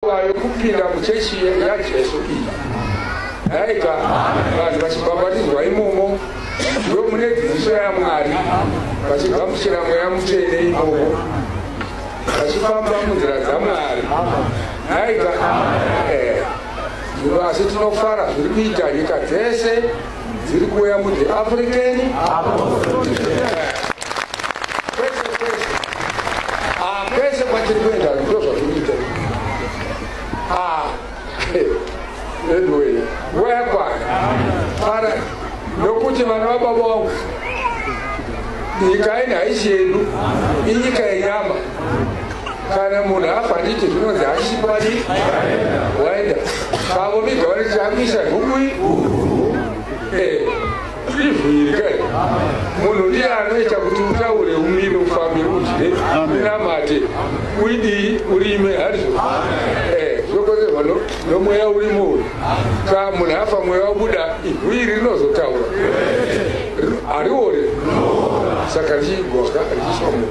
Nguva yokupinda muchechi yaJesu iyi yaita vanhu vachibhabhatidzwa imomo ndomune dzidziso yaMwari vachigamuchira mweya mutsvene imomo vachifamba munzira dzaMwari yaita eh, asi tinofara zviri kuita nyika dzese dziri kuuya mu the african kwese kwese ah, kwese kwatiri kuenda ndo zvazvinoita ah, anyway nguva yakwana ara nokuti vana vababa vangu nyika ini haisi yedu inyika yenyama kana munhu afa ndicho zvinonzi hachipadi waenda pavo viga vanoti hamisa hukui eh, izviri kai munhu ndiye anoita kuti utaure umire ufambe udye unamate uidii urime hazvo eh, zvokozerwa nomweya urimo uyu ka munhu afa mweya wabuda ihwiri rinozotaura hariore saka richiigwaka richiiswa munhu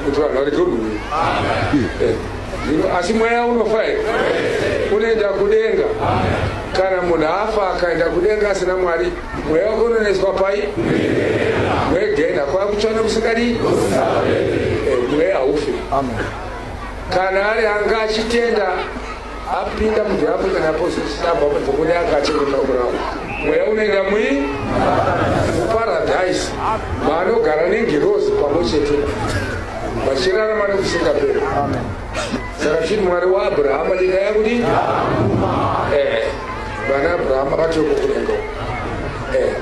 kuti vanhu varege unhuhwira eh, asi mweya unofa here unoenda kudenga kana munhu afa akaenda kudenga asina mwari mweya wake unoneswa pai mwegena kwakutsvana kusikadii eh, mweya haufi kana ari anga achitenda apinda mu the african apostles club apo dzokoni akachengeta kurava mweya unoenda mui muparadhaisi maanogara nengirozi pamwe chete vachirarama nekusingaperi saka tichiti mwari waabrahama nyika yakuti eh, vana abrahama vachoko kunengo eh,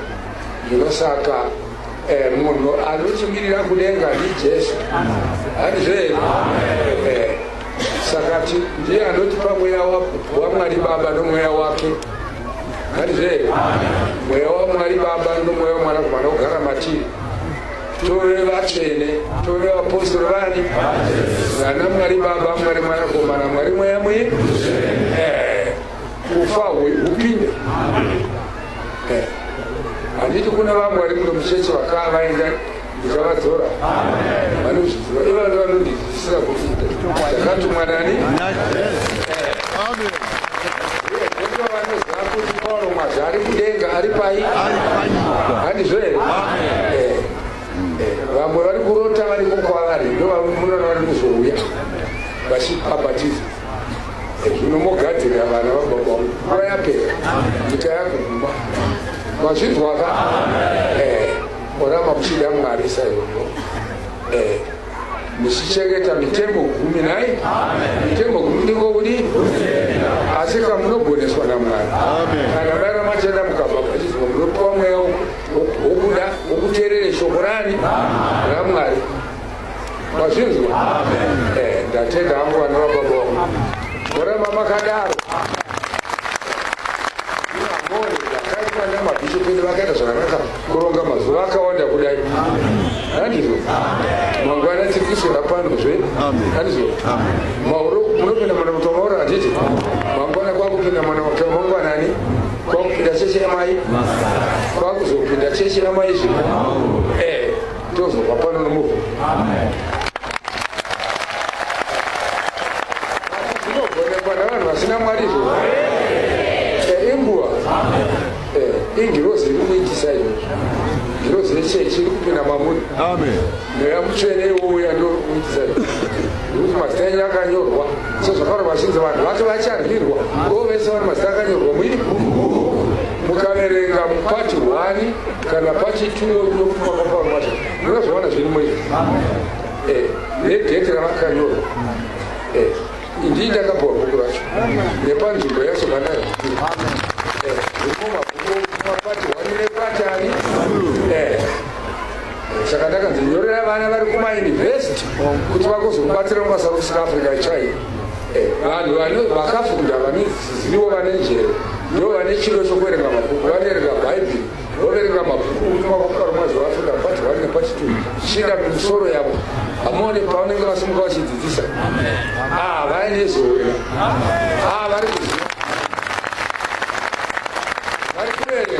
zvino saka eh, munhu anochimirira kudenga ndijesu handizve saka ndiye anotipa mweya wamwari baba nomweya wake hanizve mweya wamwari baba nomweya wamwanakomana kugara matiri tove vatsvene tove vapostori vani vana mwari baba mwari mwanakomana mwari mweya mwe eh, kufa hupinde eh, handiti kuna vamwari muno mucheche vakava vaenda ndikavadzora vanozviziva ivana vanondidzidzisira kuita ndakatumwa nani vanoziva kuti pauro mwazvi ari kudenga ari pai handizvo here eh, eh, vamwe vari kurota vari kokwavari ndovamunana vari kuzouya vachibhabhatiza eh, zvino mogadzirira vana vababa nguva yapera nyika yakuguma mazvinzwaka Murama muchida Mwari saizvozvo eh, muchichengeta mitemo gumi nai mitemo gumi ndiko kudi asi ka munogoneswa naMwari kana vaira machenda mukabva pachizwa munopiwa mweya wokuda wokuteerere shoko rani raMwari mazvinzwa eh, ndatenda hangu vana vababa vangu moramba makadaro mabhishopu edu vakaita zvakanaka kuronga mazuva akawanda kudai andizvo mangwana tiri kuswera pano zve andizvo mauro munopinda mwana muto mauro handiti mangwana kwakupinda mwana muto mangwanani kwakupinda cheche yamai kwakuzopinda cheche yamai zve tozova pano nomuvo zvinogonekwa navanhu vasina mwari izvo eh, inguva eh, ingirozi iri kuitisa izvozvo ngirozi yechechi iri kupinda mamuri mweya mutsvene iwouya ndokuitisa nekuti mazita enyu akanyorwa sezvakaro vazhinzi vanhu vacho vacharwirwa kovese vane mazita akanyorwa muini mukaverenga mupati hwani kana pachituwo pakapangwacho munozowana zvirimo izvi eh, nedheti ravakanyorwa eh, ndii ndakapuwa bhuku racho nepanzvimbo yacho kanayo vatari eh. saka ndakanzi nyorera vana vari kumauniversity kuti vakozokubatsira mubasa rokusika africa chai eh. vanhu vakafunda vane Ivo vane njere ndivo vane chido chokuverenga mabhuku vanoerenga bhaibheri voverenga mabhuku kutuma kwakudaro mwazi vaafrika pati one nepati two zvichienda kumusoro yavo hamuone pavanenge vasimuka vachidzidzisa ah, vaine zoe ah, vari kuziva vari kuverenga